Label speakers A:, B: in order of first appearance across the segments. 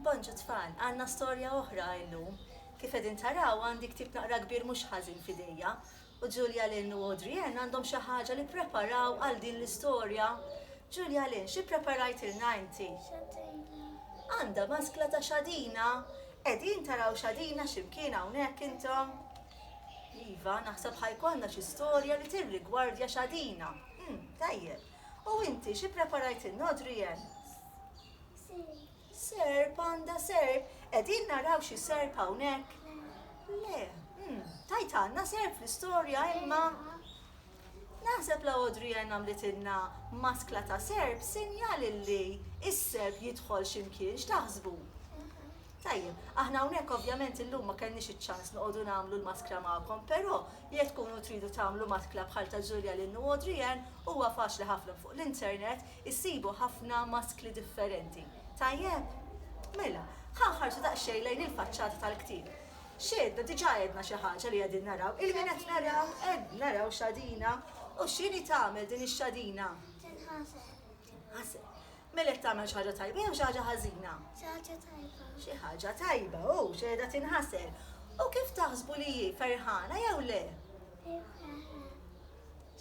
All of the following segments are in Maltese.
A: Bonġu tfal, għandna storja oħra illum. Kif qegħdin taraw għandi ktieb naqra kbir mhux ħażin f'idejja u Julia Lynn u Adrienne għandhom xi ħaġa li ppreparaw għal din l-istorja. Julia Lynn, xi ppreparajtilna inti? Xadina. Għandha maskla ta' xadina? Qegħdin taraw xadina xi mkien hawnhekk intom? Iva, naħseb ħa jkollna xi storja li tirrigwardja xadina. Tajjeb. U inti xi preparajtilna Adrienne? Serp għandha serp. Qegħdin naraw xi serp hawnhekk? Le. Hmm, tajt għandna serp fl-istorja imma Naħseb la Audrey Ann għamlitilna maskla ta' serb sinjal illi is-serb jidħol ximkien x'taħsbu. Tajjeb, aħna hawnhekk ovvjament illum ma kellniex iċ-ċans noqogħdu nagħmlu l-maskra magħkom, però Jekk tkunu tridu tagħmlu matkla bħal ta' Julia Lynn u Audrey Ann, huwa faċli ħafna fuq l-internet issibu ħafna maskli differenti. Tajjeb? Mela, ħa nħarsu daqsxejn lejn il-faċċata tal-ktieb. X'għedna? Diġà għedna xi ħaġa li qegħdin naraw. Il-min qed naraw? Qed naraw xadina. U x'inhi tagħmel din ix-xadina? Tinħasel. Tinħasel. Mela jekk tagħmel xi ħaġa tajba jew xi ħaġa ħażina? Xi ħaġa tajba. Xi ħaġa tajba, hu, xi qiegħda tinħasel. U kif taħsbu li hi, ferħana jew le? Hi ferħana.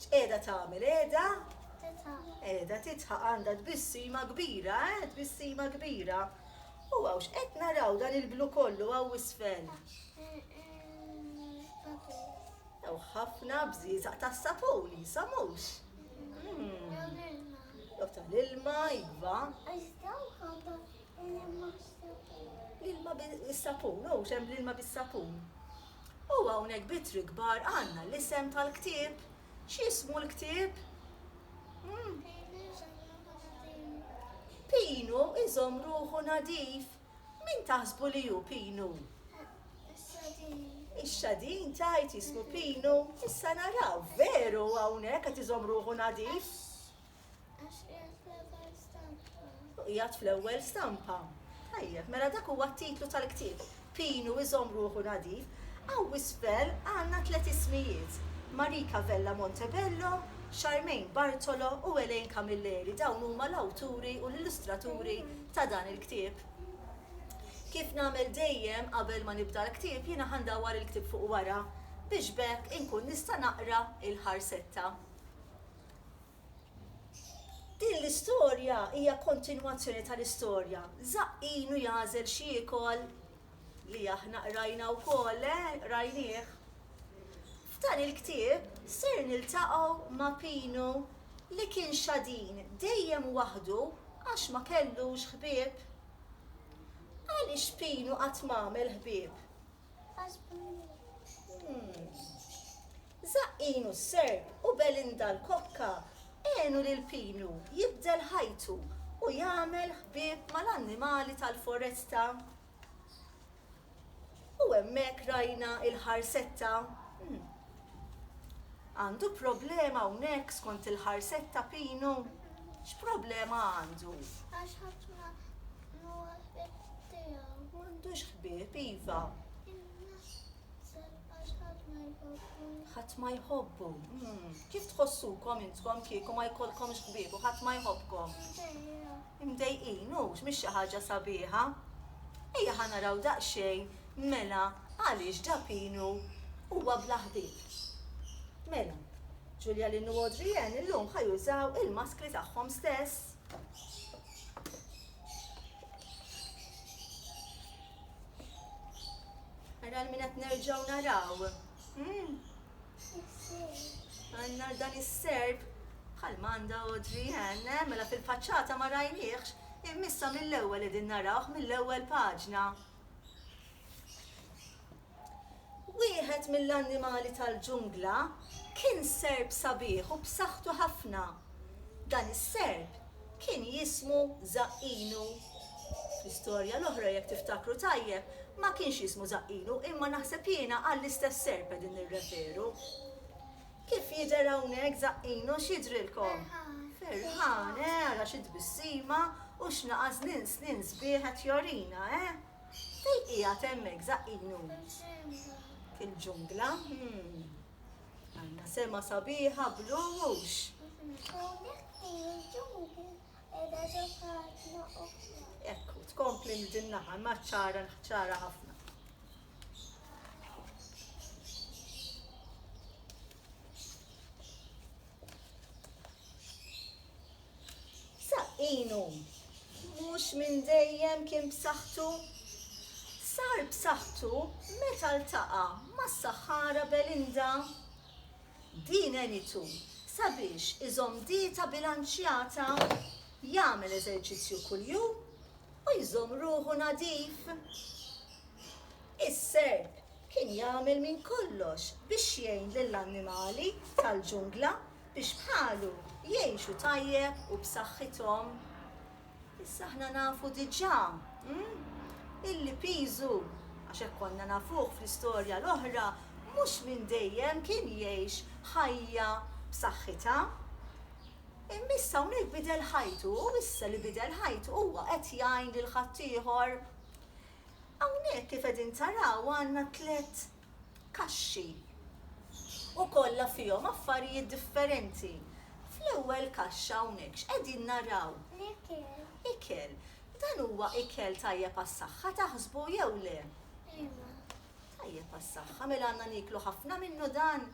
A: X'qiegħda tagħmel, qiegħda? Titħaq. Qiegħda titħaq għandha tbissima kbira, eh, tbissima kbira. U hawn x'qed naraw dan il-blu kollu hawn isfel? Ew ħafna bżieżaq tas-sapun, jisamux. Hmm. Jew tal-ilma, iva. L-ilma bis-sapun, u xem l-ilma bis-sapun. U hawnhekk bitri kbar għandna l-isem tal-ktieb. X'ismu l-ktieb? Hmm. Pinu iżom ruħu nadif. Min taħsbu li hu Pinu? Ix-xadin. Ix-xadin tgħid jismu Pinu? Issa naraw, veru hawnhekk qed iżomm ruħu nadif? Għax qiegħed fl-ewwel stampa. Qiegħed fl-ewwel stampa. Tajjeb, mela dak huwa t-titlu tal-ktieb. Pinu iżomm ruħu nadif. Hawn isfel għandna tliet ismijiet. Marika Vella Montebello, Charmaine Bartolo u Elaine Camilleri. Dawn huma l-awturi u l-illustraturi ta' dan il-ktieb. Kif nagħmel dejjem qabel ma nibda l-ktieb jiena ħa ndawwar il-ktieb fuq wara biex b'hekk inkun nista' naqra l-ħarsetta. Din l-istorja hija kontinwazzjoni tal-istorja Żaqqin u jagħżel x'jiekol li aħna qrajna wkoll, eh, qrajnieh. F'dan il-ktieb ser niltaqgħu ma' Pino li kien xadin dejjem waħdu għax ma kellux ħbieb. Għaliex Pino qatt m'għamel ħbieb? Għax ma jridx. Żaqqin u s-Serb u Belinda l-kokka għenu lil Pino jibdel ħajtu u jagħmel ħbieb mal-annimali tal-foresta. U hemmhekk rajna il-ħarsetta. Hm. Għandu problema hawnhekk skont il-ħarsetta Pinu? X'problema għandu? Għax ħadd ma huwa ħbieb tiegħu. M'għandux ħbieb, iva. Ħadd ma jħobbu. Hmm. Kif tħossukom intkom kieku ma jkollkomx ħbieb u ħadd ma jħobbkom? Imdejqin, hux mhix xi ħaġa sabiħa. Ejja ħa naraw daqsxejn mela għaliex Dapinu huwa bla ħbieb. Mela, Julialin u Adrienne illum ħa jużaw il-maskri tagħhom stess. Ara għal min qed nerġgħu naraw. Hmm. Għandna dan is-serp, bħalma għandha Audrey Ann, eh, mela fil-faċċata ma rajniehx, imma issa mill-ewwel qegħdin narawh, mill-ewwel paġna. Wieħed mill-annimali tal-ġungla kien serp sabiħ u b'saħħtu ħafna. Dan is-serp kien jismu Żaqqinu. Fl-istorja l-oħra jekk tiftakru tajjeb ma kienx jismu Żaqqinu imma naħseb jiena għall-istess serp qegħdin nirreferu. Kif jidher hawnhekk Żaqqinu x'jidhrilkom? Ferħan, eh, ara xi tbissima u x'naqa' żnien snien sbieħ qed jorina, eh? Fejn qiegħed hemmhekk Żaqqinu? Fil-ġungla. Fil-ġungla, hm. Għandna sema sabiħa bl-uwux. Ekku, tkompli minn din naħa, ma ċara, ċara ħafna. Saqqinu mhux minn dejjem kien b'saħħtu. Sar b'saħħtu meta ltaqa' mas-saħħara Belinda. Din għenitu sabiex iżomm dieta bilanċjata, jagħmel eżerċizzju kuljum u jżomm ruħu nadif. Is-Serb kien jagħmel minn kollox biex jgħin lill-annimali tal-ġungla. biex bħalu jgħixu tajjeb u b'saħħithom. Issa aħna nafu diġà illi piżu, għax hekk konna nafuh fl-istorja l-oħra, mhux minn dejjem kien jgħix ħajja b'saħħitha. Imma issa hawnhekk bidel ħajtu u issa li bidel ħajtu huwa qed jgħin lil ħaddieħor. Hawnhekk kif qegħdin taraw għandna tliet kaxxi u kollha fihom affarijiet differenti. Fl-ewwel kaxxa hawnhekk x'qegħdin naraw? L-ikel. Ikel. Dan huwa ikel tajjeb għas-saħħa taħsbu jew le? Iva. Tajjeb għas-saħħa, mela għandna nieklu ħafna minnu dan?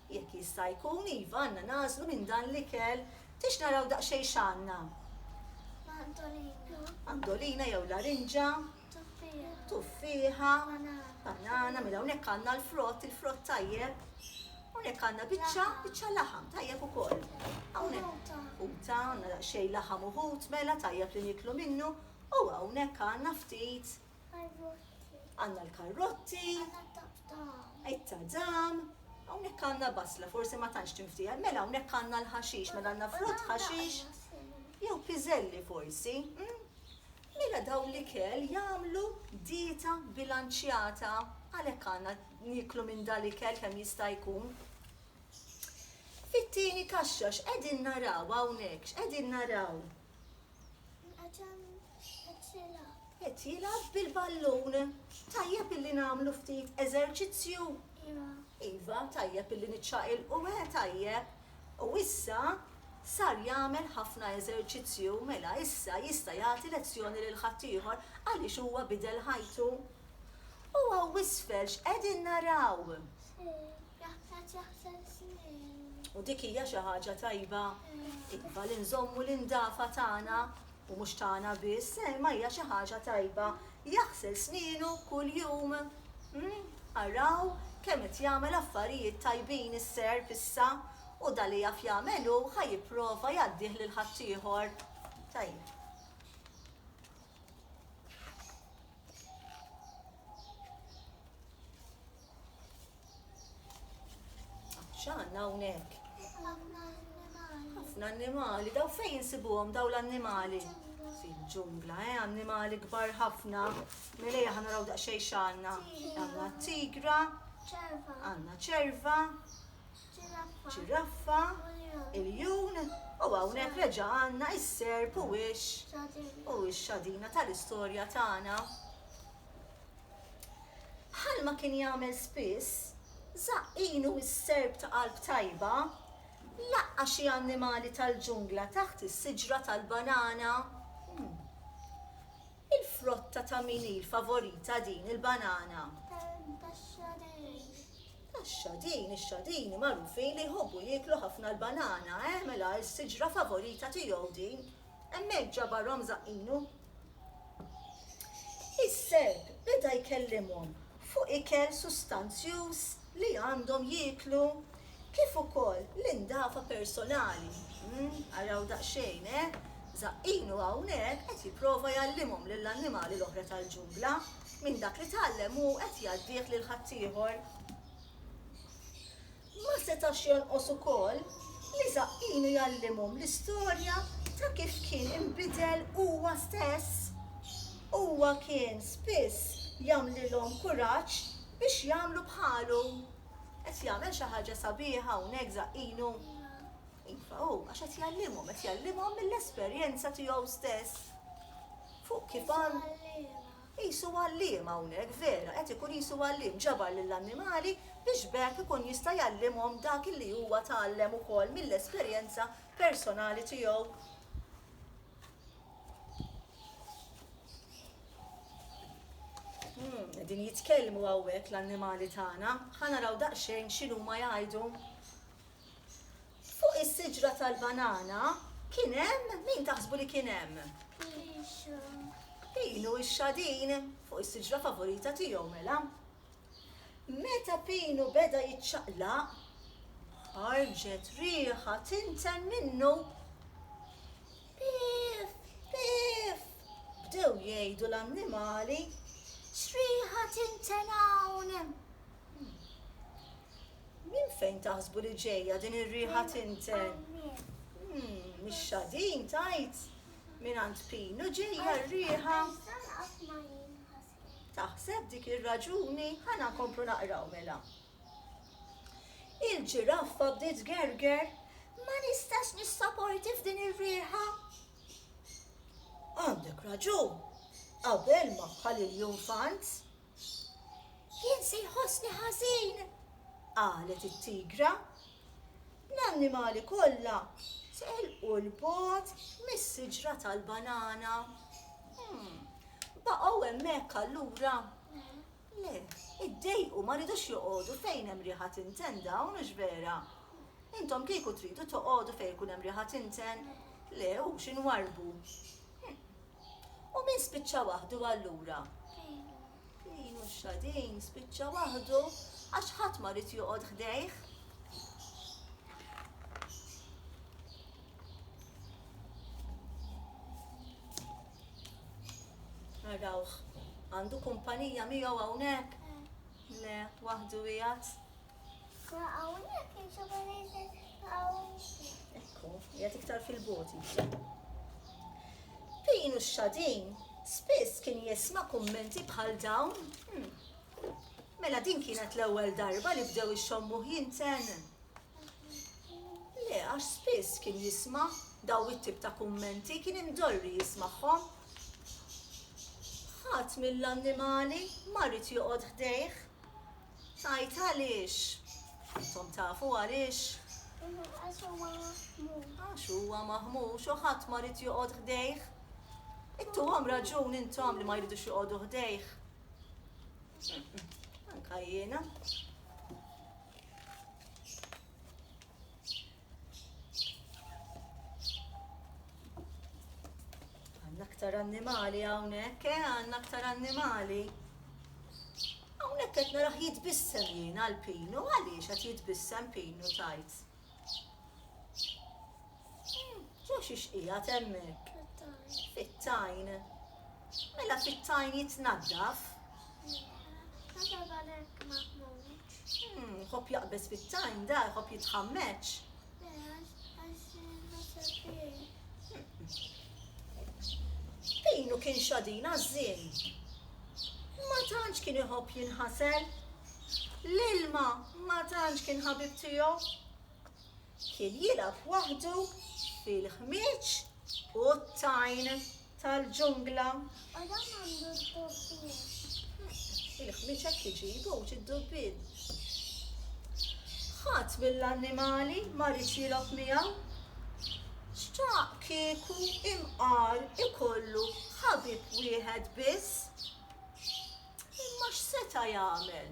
A: Jekk jista' jkun, iva, għandna nagħżlu minn dan l-ikel. Tix naraw daqsxejn x'għandna? Mandolina. Mandolina jew larinġa. Tuffieħa. Tuffieħa. Banana. Mela hawnhekk għandna l-frott, il-frott tajjeb. Hawnhekk għandna biċċa, biċċa laħam tajjeb ukoll. Hawnhekk. Uta, għandna daqsxejn laħam uħut, mela tajjeb li niklu minnu. U hawnhekk għandna ftit Karrotti. Għandna l-karrotti. Għandna t-tadam. It-tadam. Hawnhekk għandna basla, forsi ma tantx tinftieħ. Mela hawnhekk għandna l-ħaxix, mela għandna frott ħaxix. Jew piżelli forsi. Mm? Mela dawn l-ikel jagħmlu dieta bilanċjata. Għalhekk għandna niklu minn dal ikel kemm jista' jkun. Fit-tieni kaxxa x'qegħdin naraw hawnhekk, x'qegħdin naraw? Għatem qed jilgħab. Qed jilgħab bil-ballun. Tajjeb illi nagħmlu ftit eżerċizzju? Iva. Iva, tajjeb illi niċċaqilqu, eħe tajjeb. U issa sar jagħmel ħafna eżerċizzju, mela issa jista' jagħti lezzjoni lil ħaddieħor għaliex huwa bidel ħajtu. U hawn 'l isfel x'qegħdin naraw? Sejf. Jaħsad jaħsad snin. U dik hija xi ħaġa tajba. Iva li nżommu l-indafa tagħna u mhux tagħna biss, eh, ma hija xi ħaġa tajba. Jaħsel snienu kuljum. Hmm? Araw kemm qed jagħmel affarijiet tajbin is-serp issa u dan li jaf jagħmel hu ħa jipprova jgħaddih lil ħaddieħor. Tajjeb. X'għandna hawnhekk? Ħafna annimali, daw fejn insibuhom daw l-annimali? Fil-ġungla, eh, annimali kbar ħafna. Mela jaħna naraw daqsxejn x'għandna. Għandna tigra, għandna ċerva, ċiraffa, il-jun, u hawnhekk reġa' għandna is-serp u wix u x-xadina tal-istorja tagħna. Bħalma kien jagħmel spiss, żaqqinu s-serp ta' qalb tajba laqqa' xi annimali tal-ġungla taħt is-siġra tal-banana. Il-frotta ta' min hi l-favorita din il-banana? Tax-xadin. Tax-xadin, ix-xadini magħrufin li jħobbu jieklu ħafna l-banana, eh mela s-siġra favorita tiegħu din. Hemmhekk ġabarhom żaqqinu. Is-serp beda jkellimhom fuq ikel sustanzjuż li għandhom jieklu kif ukoll l-indafa personali. Umm, araw daqsxejn, eh? Żaqqinu hawnhekk qed jipprova jgħallimhom lill-annimali l-oħra tal-ġungla minn dak li tgħallem hu qed jgħaddih lil ħaddieħor. Ma setax jonqos ukoll li żaqqinu jgħallimhom l-istorja ta' kif kien inbidel huwa stess. Huwa kien spiss jagħmlilhom kuraġġ biex jagħmlu bħalu. Qed jagħmel xi ħaġa sabiħa hawnhekk żaqqinu? Iva hu, għax qed jgħallimhom, qed jgħallimhom mill-esperjenza tiegħu stess fuq kif għandhom. Qisu għalliem hawnhekk, vera, qed ikun qisu għalliem, ġabar lill-annimali biex b'hekk ikun jista' jgħallimhom dak li huwa tgħallem ukoll mill-esperjenza personali tiegħu. Qegħdin jitkellmu hawnhekk l-annimali tagħna. Ħa naraw daqsxejn x'inhuma jgħidu. Fuq is-siġra tal-banana kien hemm min taħsbu li kien hemm? Pixu. Pinu x-xadin fuq is-siġra favorita tiegħu mela. Meta Pinu beda jiċċaqlaq, ħarġet riħa tinten minnu. Piff! Piff! bdew jgħidu l-annimali. X'riħa tinten hawn? Minn fejn taħsbu li ġejja din ir-riħa tinten? Umm, mix-xadin tgħid? Mingħand Pino ġejja r-riħa. Taħseb dik ir-raġuni? Ħa nkomplu naqraw mela. Il-ġiraffa bdiet tgerger. Ma nistax nissaporti f'din ir-riħa. Għandek raġun, qabel ma bħal il-junfant, Jien se jħossni ħażin, qalet it-tigra. L-annimali kollha telqu 'l bogħod mis-siġra tal-banana. Baqgħu hemmhekk allura? Le, iddejqu, ma ridux joqogħdu fejn hemm riħa tinten dawn, hux vera? Intom kieku tridu toqogħdu fejn ikun hemm riħa tinten? Le, hux inwarrbu. U min spiċċa waħdu allura? Din u xadin spiċċa waħdu għax ħadd ma rid joqgħod ħdejh. Narawh, għandu kumpanija miegħu hawnhekk? Le, waħdu qiegħed. Ekku, jgħat iktar fil-bot jibsa. Pinu xadin, spiss kien jisma kummenti bħal dawn. Hmm. Mela din kienet l-ewwel darba li bdew ix-xommuħ jinten. Le, għax spiss kien jisma daw it-tip ta' kummenti kien imdorri jismagħhom. Ħadd mill-annimali ma rrid joqgħod ħdejh. Ngħid għaliex? Intom tafu għaliex? Għax huwa maħmux. Għax huwa maħmux u ħadd ma rid joqgħod ħdejh. Ittuhom raġun intom li ma jridux joqogħdu ħdejh. Anka jiena. Għanna aktar annimali hawnhekk, eh, għanna aktar annimali. Hawnhekk qed naraħ jitbissem jien għal pinu, għaliex qed jitbissem pinu tajt. Hmm, ġo xiex hija temmek. Fit-tajn. Mela fit-tajn jitnaddaf. Hop hmm, jaqbeż fit-tajn da, hop jitħammeċ. Pinu kien xadin għazzin. Ma tantx kien iħobb jinħasel. L-ilma ma tantx kien ħabib tiegħu. Kien jilgħab waħdu fil-ħmieġ u t-tajn. tal-ġungla. Adam għandu d-dubbien. Il-ħmieġ hekk iġibu u ġi d-dubbien. Ħadd mill-annimali ma riedx jilgħob miegħu. Xtaq kieku imqar ikollu ħabib wieħed biss. Imma x'seta' jagħmel?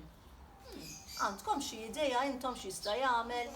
A: Għandkom xi idea intom x'jista' jagħmel?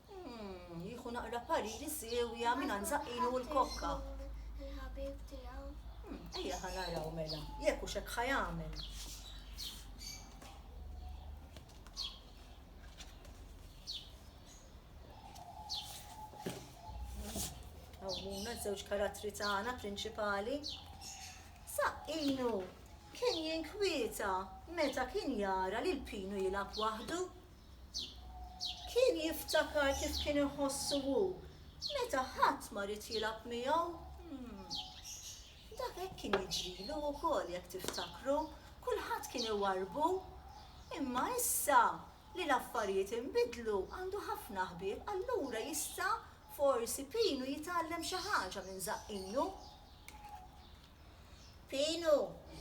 A: Umm, jieħu naqra pariri siewja mingħand Żaqqinu u l-kokka. Il-ħabib tiegħu. Umm, ejja ħa naraw mela, jekk hux hekk ħa jagħmel. Għawmuna żewġ karattri tagħna prinċipali. Saqqinu kien jinkwieta meta kien jara li l-pinu jilgħab waħdu. Kien jiftakar kif kien iħossu hu meta ħadd ma ried jilgħab miegħu. Dak hekk kien jiġrilu wkoll, jekk tiftakru, kulħadd kien iwarrbu. Imma issa li l-affarijiet inbidlu għandu ħafna ħbieb, allura jista' forsi Pinu jitgħallem xi ħaġa minn Żaqqinju. Pinu,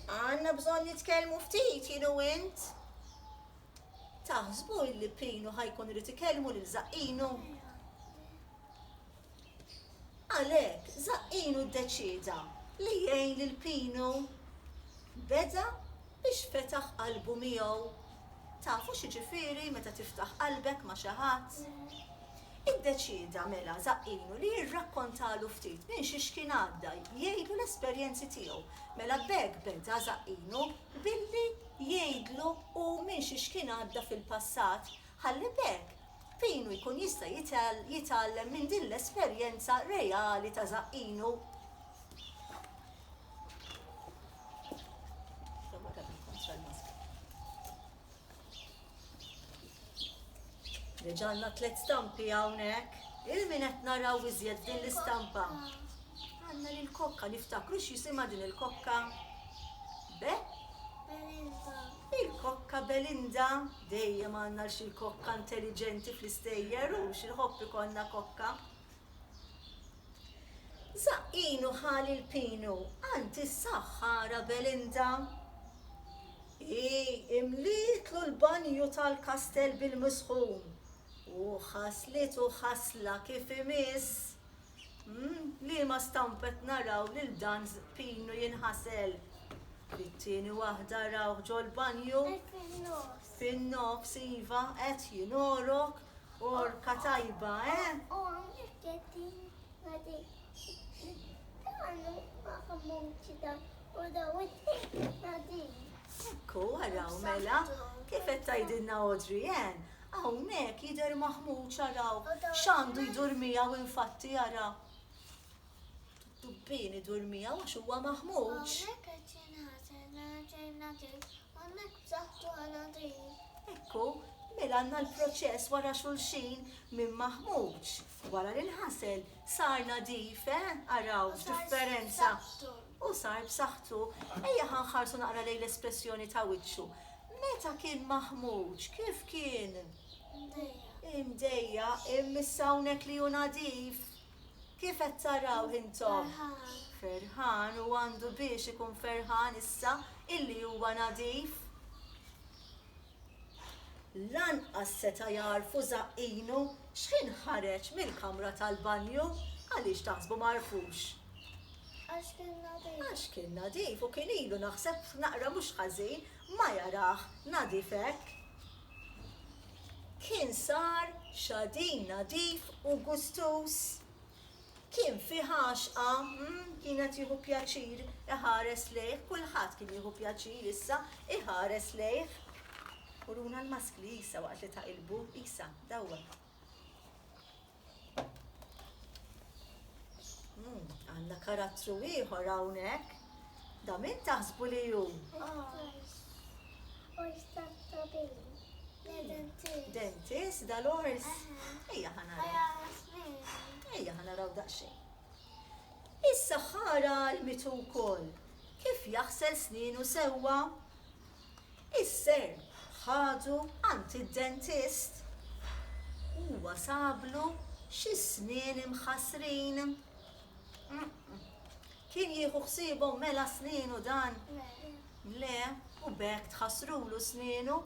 A: għandna bżonn nitkellmu ftit jien u int. Taħsbu illi Pinu ħa jkun irid ikellmu lil Żaqqinu? Għalhekk, Żaqqinu ddeċieda li jgħin lil Pinu. Beda Biex fetaħ qalbu miegħu. Tafu x'jiġifieri meta tiftaħ qalbek ma' xi ħadd? Iddeċieda mela Żaqqinu li jirrakkontalu ftit minn xiex kien għadda, jgħidlu l-esperjenzi tiegħu. Mela b'hekk beda Żaqqinu billi jgħidlu hu minn xiex kien għadda fil-passat, ħalli b'hekk Pinu jkun jista' jitgħallem minn din l-esperjenza reali ta' Żaqqinu. Reġanna tlet stampi hawnhekk. Il-min qed naraw iżjed din l-istampa. Għanna li l-kokka niftakru x'jisimha din il-kokka. Be? Belinda. Il-kokka Belinda dejjem għandna l kokka intelligenti fl-istejjer u xil-ħobb ikonna kokka. Żaqqin u ħali l-pinu għand is-saħħara Belinda. Hi imlietlu l-banju tal-kastell bil-misħun u ħaslitu ħasla kif imiss. Liema stampa qed naraw lil dan pinu jinħasel? It-tieni waħda rawh ġol-banju. Fin-nofs iva qed jingħorok għorka tajba eh! Ekku araw mela kif qed tgħidilna Audrey Ann hawnhekk jidher maħmuġ araw x'għandu jdur miegħu infatti ara. Tubbin idur miegħu għax huwa maħmuġ. Hawnhekk qed jinħażen raġel nadif, hawnhekk b'saħħtu hu nadif. Hekk hu, mela għandna l-proċess wara xulxin, minn maħmuġ, wara li nħasel, sar nadif, eh? Araw x'differenza! U sar b'saħħtu. Ejja ħa nħarsu naqra lejn l-espressjoni ta' wiċċu. Meta kien maħmuġ, kif kien? Imdejjaq. Imdejjaq, imma issa hawnhekk li hu nadif. Kif qed tarawh intom? Ferħan. U għandu biex ikun ferħan issa illi huwa nadif? Lanqas seta' jagħrfu żaqqinu x'ħin ħareġ mill-kamra tal-banju. Għaliex taħsbu ma għarfux? Għax kien nadif. Għax kien nadif u kien ilu naħseb naqra mhux ħażin ma jarah nadif hekk. kien sar xadin nadif u gustuż. Kien fih għaxqa, mm, kien qed jieħu pjaċir iħares lejh, kulħadd kien jieħu pjaċir issa iħares lejh. Uruna l-maskli, Isa, waqt li taqilbu, Isa, dawwem. Hmm, għanna karattru ieħor hawnhekk. Da min taħsbu li hu? Dentist, da l-ors. Ejja ħana. Ejja ħana raw daqsxejn. Issa ħara l-mitu wkoll. Kif jaħsel sninu sewwa? Is-sehem ħadu għand id-dentist. Huwa sablu xi snien imħassrin. Kien jieħu ħsiebhom mela snienu dan? Le, u b'hekk tħassrulu snienu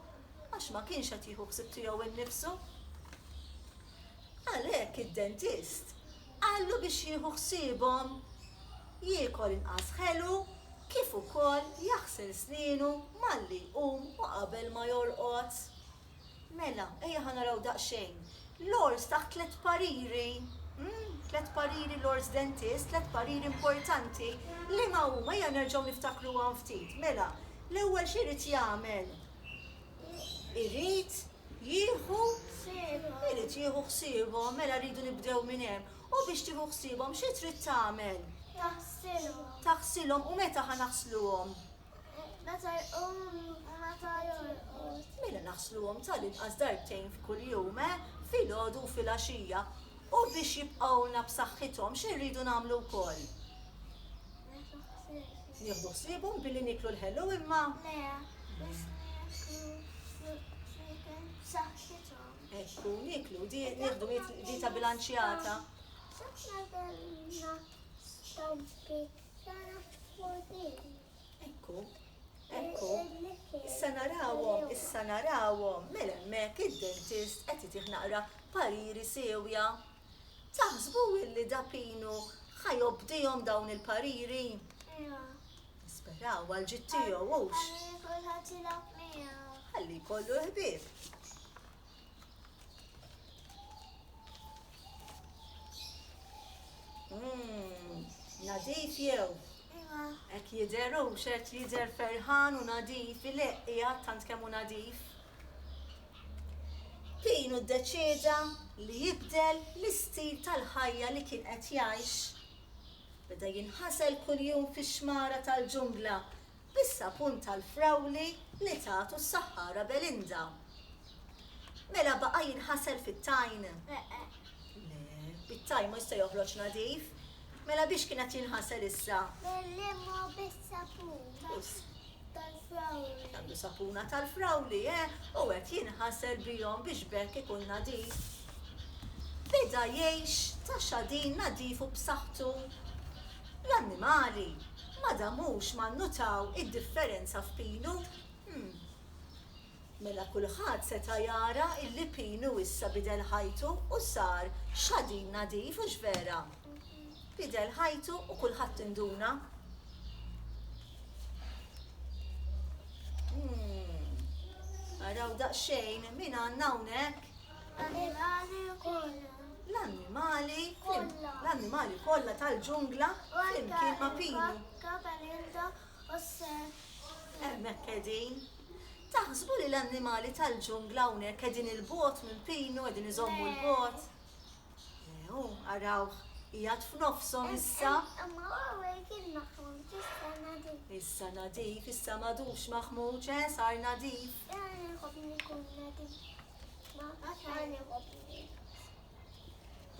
A: għax ma kienx qed jieħu ħsieb tiegħu nnifsu. Għalhekk id-dentist qallu biex jieħu ħsiebhom jiekol inqas ħelu kif ukoll jaħsel snienu malli jqum u qabel ma jorqod. Mela, ejja ħa naraw daqsxejn l-għors taħt tliet pariri, umm, tliet pariri l-għors dentist, tliet pariri importanti, liema huma? Ejja nerġgħu niftakruhom ftit. Mela, l-ewwel xi jrid jagħmel? irid jieħu irid jieħu ħsiebhom, mela rridu nibdew minn hemm. U biex tieħu ħsiebhom xi trid tagħmel? Taħsilhom. Taħsilhom u meta ħa naħsluhom? Meta jqumu u meta jorqod. Mela naħsluhom tal-inqas darbtejn f'kuljum, eh? Filgħodu u filgħaxija. U biex jibqgħulna b'saħħithom xi rridu nagħmlu wkoll? Nieħdu ħsiebhom billi niklu l-ħelu imma. Le, biex niklu ċiken b'saħħithom. Ekku, niklu, di nieħdu dieta bilanċjata. Ekku, ekku. Issa narawhom, issa narawhom, mela hemmhekk id-dentist qed itih naqra pariri sewja. Taħsbu illi Da Pino ħa jobdihom dawn il-pariri? Le. Nisperaw għall-ġid tiegħu, hux? Ħalli kulħadd jilgħab miegħu. Ħalli jkollu l-ħbieb. Mmm, nadif jew? Iva. Hekk jidher hux qed jidher ferħan u nadif, ileqq qiegħed tant kemm hu nadif. Kien u ddeċieda li jibdel l-istil tal-ħajja li kien qed jgħix. Beda jinħasel kuljum fix-xmara tal-ġungla bis-sapun tal-frawli li tatu s-saħħara Belinda. Mela baqa' jinħasel fit-tajn? Le, it-tajn mhux se joħroġ nadif. Mela biex kien qed jinħasel issa? Bil-ilma u bis-sapun. tal-frawli. Għandu sapuna tal-frawli, eh, u qed jinħasel bihom biex b'hekk ikun nadif. Beda jgħix ta' xadin nadif u b'saħħtu. L-annimali ma damux ma nnutaw id-differenza f'pilu. Hm. Mela kulħadd seta' jara illi Pinu issa bidel ħajtu u sar xadin nadif, hux vera? Bidel ħajtu u kulħadd induna. Umm. Araw daqsxejn min għandna hawnhekk? L-annimali kollha. L-annimali kollha. L-annimali kollha tal-ġungla flimkien ma' Pinu. Joseph, Hemmhekk qegħdin. Taħsbu li l-annimali tal-ġungla hawnhekk qegħdin 'il bogħod minn Pinu, qegħdin iżommu 'l bogħod? Le. Le, hu, arawh, qiegħed f'nofshom issa. Imma hu hawnhekk kien maħmuġ, issa nadif. Issa nadif, issa m'għadux maħmuġ, eh, sar nadif. Jiena nħobb li jkun nadif. Ma, jiena nħobb.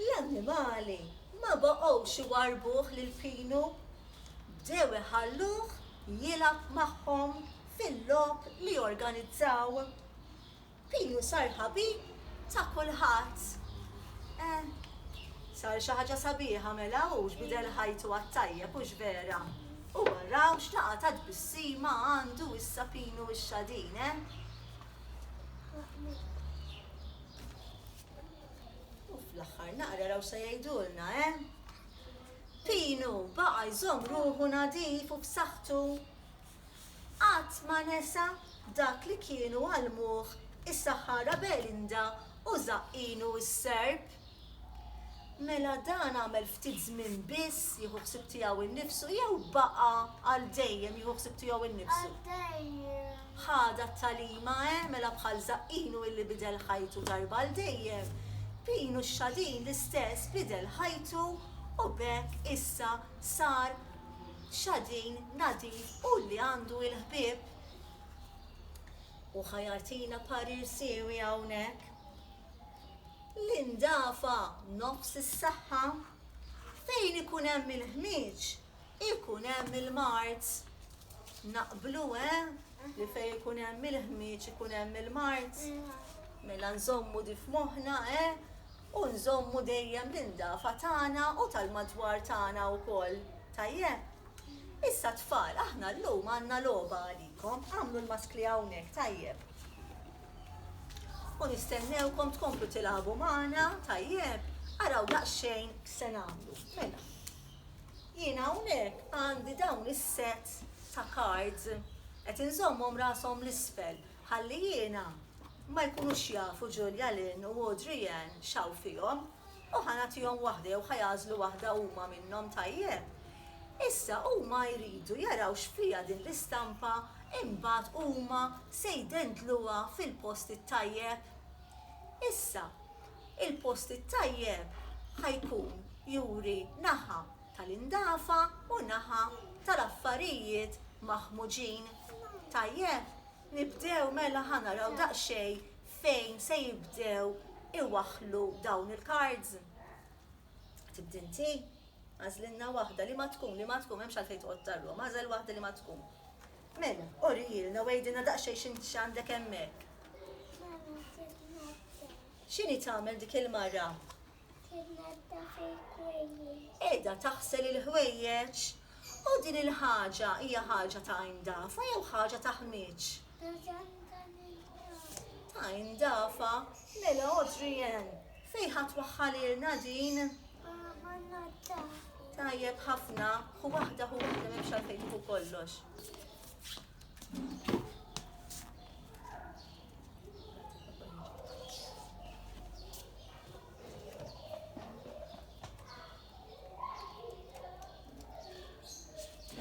A: L-annimali ma baqgħux iwarrbuh lil Pinu. Bdew iħalluh jilgħab magħhom fil-logħob li jorganizzaw. Pinu sar ħabib ta' kulħadd. Eh, sar xi ħaġa sabiħa mela hu x'bidel ħajtu għat-tajjeb, hux vera? U araw x'laqgħa ta' tbissima għandu issa Pinu x-Xadin, eh? U fl-aħħar naqra raw se jgħidulna, eh? Pinu baqa' jżomm ruħu nadif u f'saħħtu. Qatt ma nesa dak li kienu għallmuh is-Saħħara Belinda u Żaqqinu s-Serb. Mela dan għamel ftit żmien biss jieħu ħsieb tiegħu nnifsu jew baqa' għal dejjem jieħu ħsieb tiegħu nnifsu? Ħa dat-tagħlima, eh, mela bħal Żaqqinu illi bidel ħajtu darba għal dejjem, Pinu x-Xadin l-istess bidel ħajtu u b'hekk issa sar Xadin nadif u li għandu il-ħbieb. U ħa jagħtina parir siewi hawnhekk. L-indafa nofs is-saħħa. Fejn ikun hemm il-ħmieġ, Ikun hemm il-mard. Naqblu, eh? Li fejn ikun hemm il-ħmieġ ikun hemm il-mard. Mela nżommu di f'moħħna, eh? U nżommu dejjem l-indafa tagħna u tal-madwar tagħna wkoll. Tajjeb? Issa tfal, aħna llum għandna logħba għalikom. Agħmlu l-maskli hawnhekk, tajjeb? U nistennewkom tkomplu tilagħbu magħna, tajjeb? Araw daqsxejn x'se nagħmlu. Mela. Jien hawnhekk għandi dawn is-sets ta' cards, qed inżommhom rashom l-isfel ħalli jiena ma jkunux jafu Julia Lynn u Audrey Ann x'hawn fihom u ħa nagħtihom waħda jew ħa jagħżlu waħda huma minnhom, tajjeb? Issa huma jridu jaraw x'fiha din l-istampa imbagħad huma se jdendluha fil-post it-tajjeb. Issa, Il-post it-tajjeb ħa jkun juri naħa tal-indafa u naħa tal-affarijiet maħmuġin. Tajjeb, nibdew mela ħa naraw daqsxejn fejn se jibdew iwaħħlu dawn il-cards. Tibdi inti? Agħżlilna waħda, liema tkun, liema tkun, m'hemmx għalfejn toqgħod tarrom, agħżel waħda liema tkun. Mela, urijielna u għidilna daqsxejn x'int x'għandek hemmhekk. Mama titnaddaf. X'inhi tagħmel dik il-mara? Titnaddaf il-ħwejjeġ. Qiegħda taħsel il-ħwejjeġ. U din il-ħaġa hija ħaġa ta' indafa jew ħaġa ta' ħmieġ? Ta' indafa. Ta' indafa. Mela Adrienne, fejn ħa twaħħalilna din? Għamilna ta. Tajjeb ħafna, hu waħda hu waħda m'hemmx għalfejn tieħu kollox.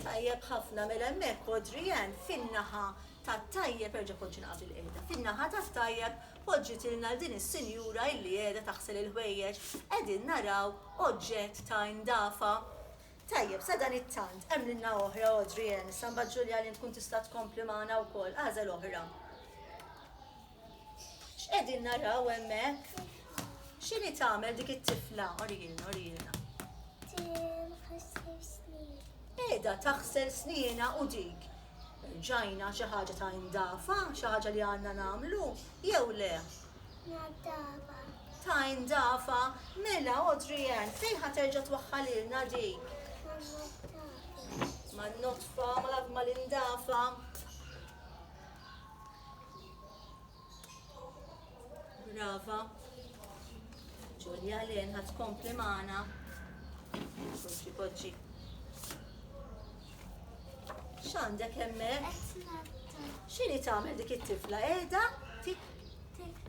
A: tajjeb ħafna mela hemmhekk Adrian fin-naħa tat-tajjeb erġa' konċi naqab il-qiegħda. Fin-naħa tat-tajjeb Poġġitilna 'l din is-sinjura illi qiegħda taħsel il-ħwejjeġ, qegħdin naraw oġġett ta' indafa. Tajjeb, sadanittant, għemlilna oħra, Audrey Ann, issa mbagħad Julia Lynn tkun tista' tkompli magħna wkoll, agħżel oħra. X'qegħdin naraw hemmhekk? X'inhi tagħmel dik it-tifla? Orijilna, orijilna. Qiegħda taħsel sniena u dik Ġajna xi ħaġa ta' indafa, xi ħaġa li għandna nagħmlu, jew le? Naddafa. Ta' indafa, mela Audrey Ann, fejn ħa terġa' twaħħalilna dik? Ma' notfa, ma' l-indafa. Brava. Ġulja Len ħadd kompli magħna. Kompli poġġi. X'għandek hemmhekk? X'inhi tagħmel dik it-tifla? Qiegħda tik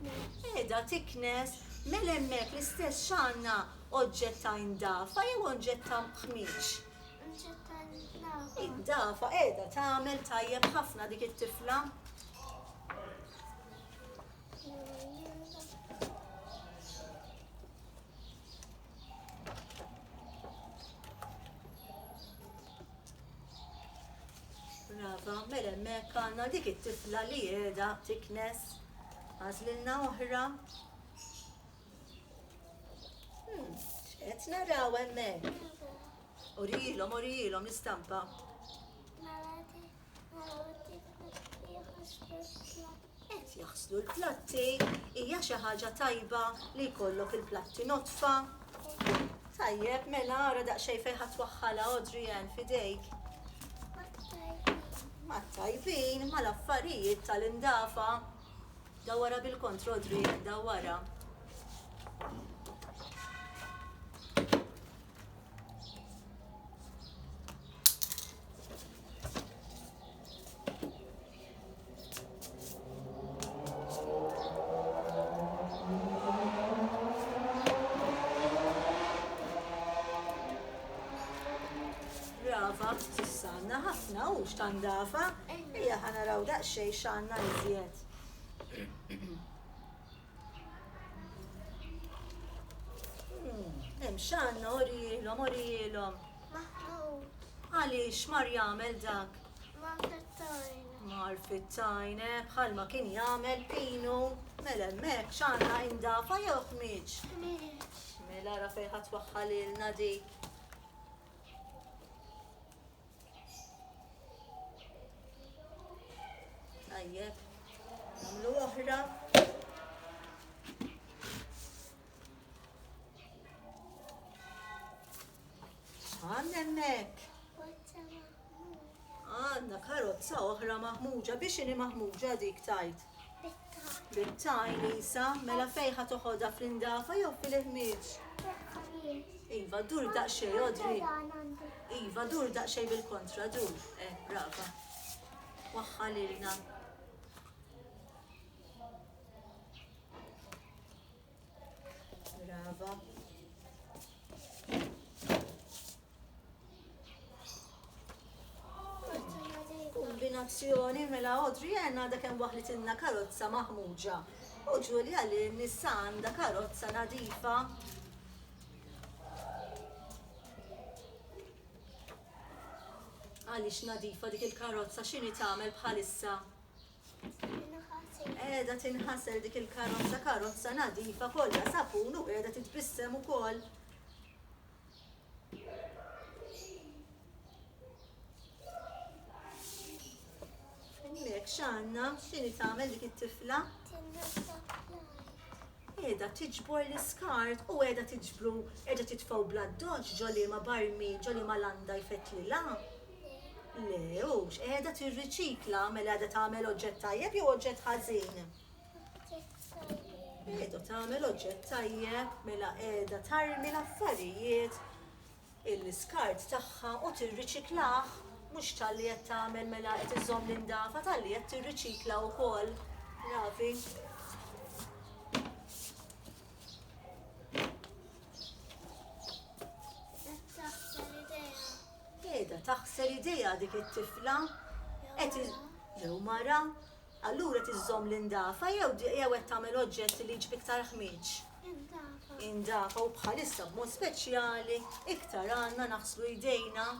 A: Qiegħda tiknes mel hemmhekk l-istess x'għandna oġġett ta' indafa jew oġġett ta' ħmieġ. Id-dafa qiegħda tagħmel tajjeb ħafna dik it-tifla. Brava, mela hemmhekk għandna dik it-tifla li qiegħda tiknes għażlilna oħra. Hmm, qed naraw hemmhekk. Urilhom, urilhom l-istampa. Qed jaħslu l-platti, hija xi ħaġa tajba li jkollok il-platti notfa. Tajjeb, mela ara daqsxejn fejn ħadd waħħala Adrian fidejk. Ma tajbin, ma l-affarijiet tal-indafa. Dawara bil-kontro Adrian, dawara. Brava, s'issa għandna ħafna u x'ta ndafa. Ejja ħa naraw daqsxejn x'għandna iżjed. Hemm x'għandna orijielhom, orijielhom. Maħmud. Għaliex mar jagħmel dak? Ma fittajna. Mar fittajna, bħal ma kien jagħmel pinu. Mela hemmhekk x'għandna indafa jew ħmiġ? Ħmiġ. Mela ra fejn ħadd waħħalilna dik. Tajjeb, namlu oħra. Għan emmek. Għanna karozza oħra maħmuġa, biex ini maħmuġa dik tajt. Bit-tajn. Bit-tajn, Lisa. Mela fejn ħa toħodha fl-indafa jew fil-ħmieġ? Fil-ħmieġ. Iva, dur daqsxejn, Odri. Iva, dur daqsxejn bil-kontra, dur. Eh, brava. Waħħa lilna. Brava. Kombinazzjoni mela Audrey għenna da kem waħlit inna karozza maħmuġa. U Ġulja li nissa għanda karozza nadifa. Għalix nadifa dik il-karozza xini tagħmel bħalissa? Qiegħda tinħasel dik il-karozza, karozza nadifa kollha sapun u qiegħda titbissem ukoll. Hemmhekk x'għandna x'inhi tagħmel dik it-tifla? Qiegħda tiġbor l-iskart u qiegħda tiġbru qiegħda titfgħu bl-addoċċ ġo liema barmi ġo liema landa jfettlilha. Le, hux, qiegħda tirriċikla, mela qiegħda tagħmel oġġett tajjeb jew oġġett ħażin? Qiegħda tagħmel oġġett tajjeb, mela qiegħda tarmi l-affarijiet il-skart tagħha u tirriċiklah mhux tal-li qed tagħmel mela qed iżomm l-indafa tal-li qed tirriċikla wkoll. Ravi. Qiegħda taħsel idejha dik it-tifla qed jew mara allura qed iżżomm l-indafa jew jew qed tagħmel oġġett li jiġbed iktar ħmieġ. Indafa. Indafa u bħalissa b'mod speċjali iktar għandna naħslu jdejna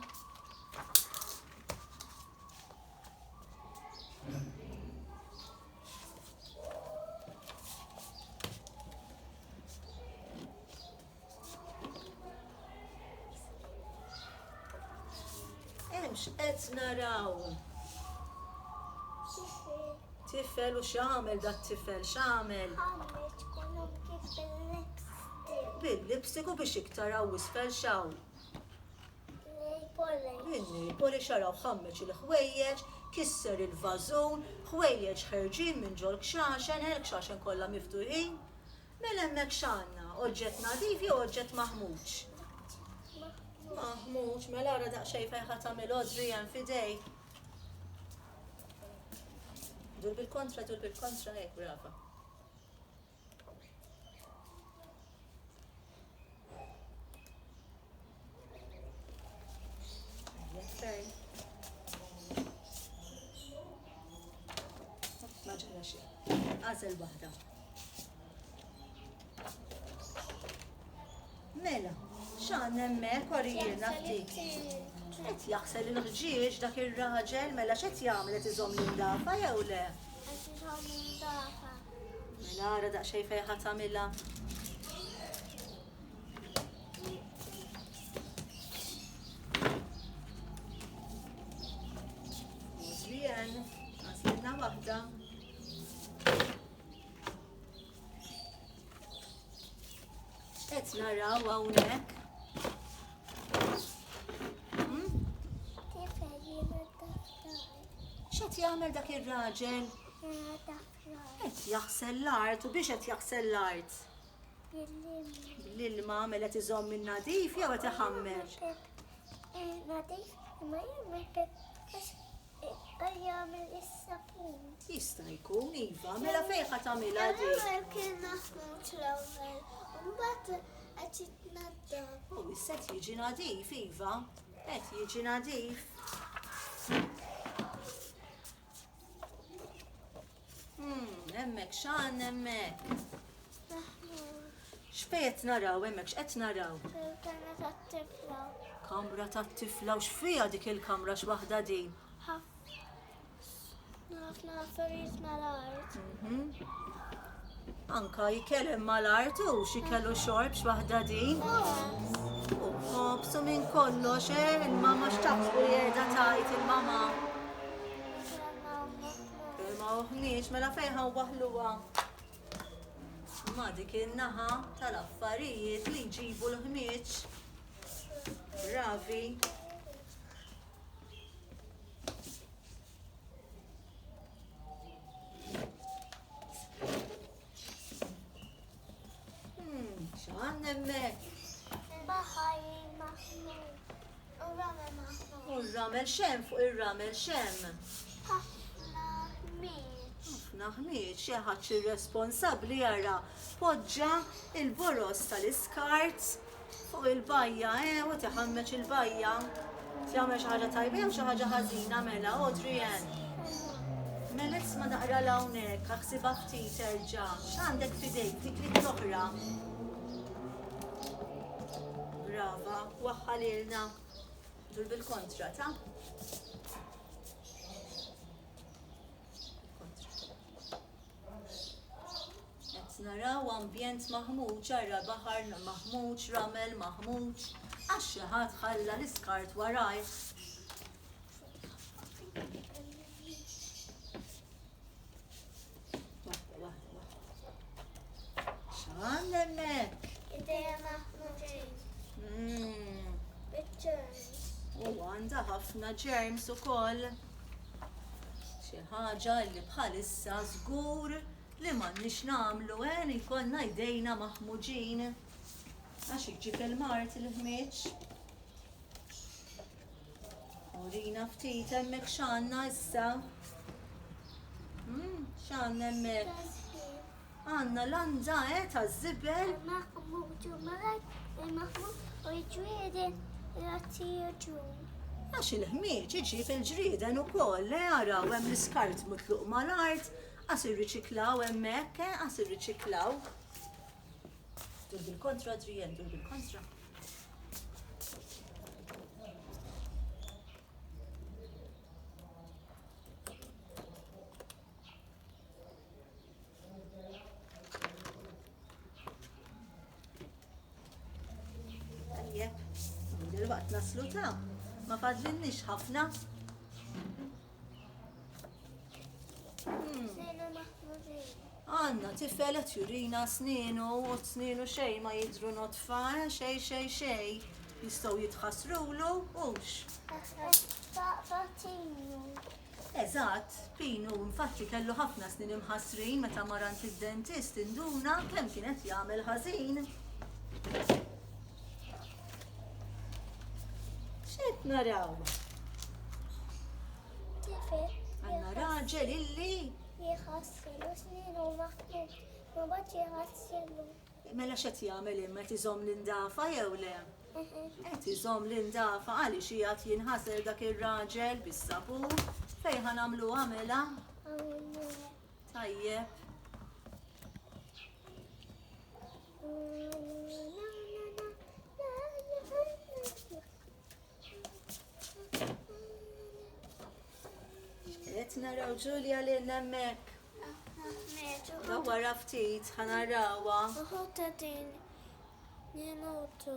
A: Hemm x'qed naraw? Tifel u x'għamel dat tifel x'għamel? Bil-lipstick u biex iktar hawn isfel x'hawn? Il-nipoli xaraw ħammeġ il-ħwejjeġ, kisser il-vażun, ħwejjeġ ħerġin minn ġol kxaxen, il-kxaxen kollha miftuħin. Mela hemmhekk x'għandna? Oġġett nadif jew oġġett maħmuġ? Maħmuġ, mela ara daqsxejn fejn ħa tagħmel odri hemm f'idejk. Dur bil-kontra, dur bil-kontra, hekk brava. Għażel waħda. Mela, xan emmek orijina ftit. Qed jaħsel il-ħġieġ dak ir-raġel mela x'qed jagħmel qed iżomm l-indafa jew le? Mela ara daqsxejn fejn ħatamilha. naraw hawnhekk. Hmm? X'qed jagħmel dak ir-raġel? Qed jaħsel l-art u biex qed jaħsel l-art. L-ilma mela qed iżomm in-nadif jew qed iħammer? Nadif imma jien ma jħebbx jagħmel is-sapun. Jista' jkun iva, mela fejn ħa tagħmilha dik? Kien maħmut l-ewwel, imbagħad qed jitnaddaf. U issa jiġi nadif iva, qed jiġi nadif. Hemmhekk x'għandna hemmhekk? X'fejn qed naraw hemmhekk x'qed naraw? Kamra tat-tifla. Kamra tat-tifla u x'fiha dik il-kamra x'waħda din? Ħafna affarijiet mal-art. Mhm. Anka jikel imma l-art u xikellu xorb x'waħda din. U b'ħobsu minn kollox, eh, il-mama x'taħsbu li qiegħda tajt il-mama. Imma uħniex, mela fejħa waħluwa. Ma dik in-naħa tal-affarijiet li jġibu l-ħmieġ. Ravi. ramel xem fuq ir-ramel xem. Ħafna ħmieġ. Ħafna ħmieġ, xi ħadd irresponsabbli jara poġġa il-boros tal-iskart Fuq il-bajja, eh, hu qed iħammeġ il-bajja. Qed jagħmel xi ħaġa tajba jew xi ħaġa ħażina mela, Audrey Ann? Mela isma' naqra 'l hawnhekk, aħsibha ftit erġa'. X'għandek f'idejk dik l-id l-oħra? Brava, waħħa lilna. Dur bil-kontra, ta? Qed naraw ambjent maħmuġ, ara baħar maħmuġ, ramel maħmuġ, għax xi ħadd ħalla l-iskart warajh. X'għandna hemmhekk? Idea maħmuġin. Mm. Pictures. U għandha ħafna ġerms ukoll. Xi ħaġa li bħalissa żgur li m'għandniex nagħmlu għen ikollna jdejna maħmuġin. Għax iġġib il-mart il-ħmieġ. Urina ftit hemmhekk x'għandna issa. Hmm, x'għandna hemmhekk? Għandna landa eh taż-żibel. Maħmud u Malajk lil Maħmud u l-ġrieden grazzi raġun. Għax il-ħmieġ iġib il-ġrieden ukoll eh araw hemm l-iskart mutluq mal-art qas irriċiklaw hemmhekk eh qas irriċiklaw. Dur bil-kontra Adrienne, dur bil-kontra. Dil-waqt naslu ta' ma fadlinniex ħafna. Għanna tifelet jurina sninu u sninu xej ma jidru notfa, eh, xej xej xej. Jistaw jitħasrulu, ux. Eżatt, Pin hu infatti kellu ħafna snin imħassrin meta mar għand id-dentist induna kemm kien qed jagħmel ħażin. X'qed naraw? Tifel. Għandna raġel illi. Jħassilu snin u maħmud, ma bad jħassilu. Mela x'qed jagħmel hemm, qed iżomm l-indafa jew le? Qed iżomm l-indafa, għaliex qiegħed jinħasel dak ir-raġel bis-sapun, fejn ħa nagħmluha mela? Tajjeb. Qed naraw Ġulja li nemmek. Dawwar ftit ħanarawa. Uħuta din. Niemutu.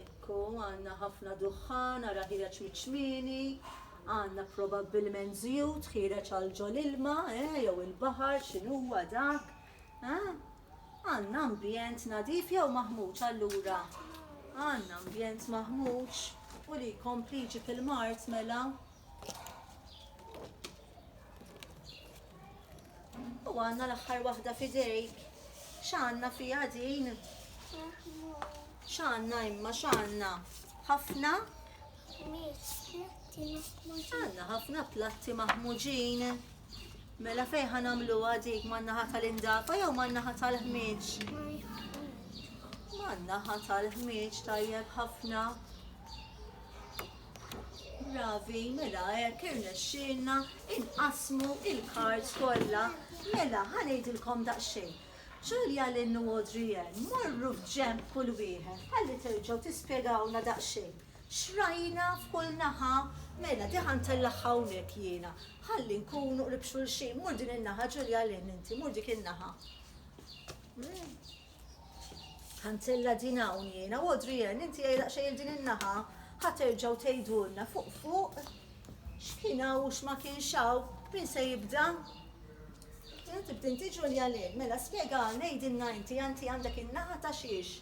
A: Ekku, għanna ħafna duħħan, għara ħireċ miċmini, għanna probabbilment zjut ħireċ għal ġol ilma, eh, jew il-bahar, xinuwa dak. Eħe, għandna ambjent nadif jew maħmuġ allura? Għandna ambjent maħmuġ u li jkompli jiġi fil-mard mela. U għandna l-aħħar waħda fidejk. X'għandna fiha din? X'għandna imma x'għandna? Ħafna Għanna ħafna platti maħmuġin. Mela fej ħanamlu għadik mannaħa tal-indafa jew mannaħa tal-ħmieġ? Mannaħa tal-ħmieġ tajjeb ħafna. Bravi, mela hekk irnexxielna inqasmu il-kard kollha. Mela ħanejdilkom daqsxejn. Ġulja l-innu Adrienne morru f'ġemb kull wieħed ħalli terġgħu tispjegawna daqsxejn. Xrajna f'kull naħa, mela diħa ntellagħha hawnhekk jiena. Ħalli nkunu qrib xulxin. Mur din in-naħa, Ġulja, għalin inti, mur dik in-naħa. Ħa ntella' din hawn jiena, u Adrienne, inti għiha daqsxejn 'il din in-naħa. Ħa terġgħu tgħidulna fuq fuq x'kien hawn u x'ma kienx hawn. Min se jibda? Tibda inti Ġulja, għalin. Mela spjegalna, għidilna inti, inti għandek in-naħa ta' xiex?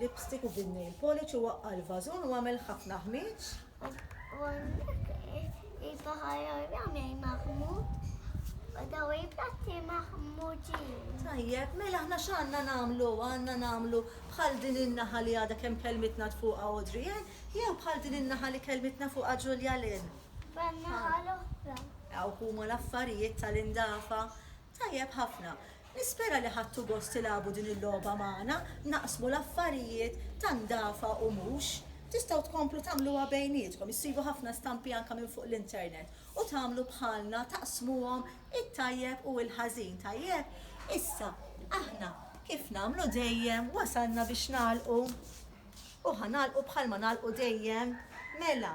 A: Lipstick u bin-nail polish u waqqa' l-vażun u għamel ħafna ħmieġ. U il-baħar jagħmel maħmud u daw il-platti maħmudin. Tajjeb, mela aħna x'għandna nagħmlu? Għandna nagħmlu bħal din in-naħa li għadha kemm kelmitna tfuqha Audrey, eh? jew bħal din in-naħa li kelmitna fuqha Ġulja Lynn. Ban-naħa l-oħra. Hawn huma l-affarijiet tal-indafa. Tajjeb ħafna. Nispera li ħadtu gost tilagħbu din il-logħba magħna, naqsmu l-affarijiet ta' ndafa u mhux. Tistgħu tkomplu tagħmluha bejnietkom, issibu ħafna stampi anke minn fuq l-internet u tagħmlu bħalna taqsmuhom it-tajjeb u l-ħażin, tajjeb? Issa, aħna, kif nagħmlu dejjem, wasalna biex nagħlqu u ħa nagħlqu bħalma nagħlqu dejjem, mela,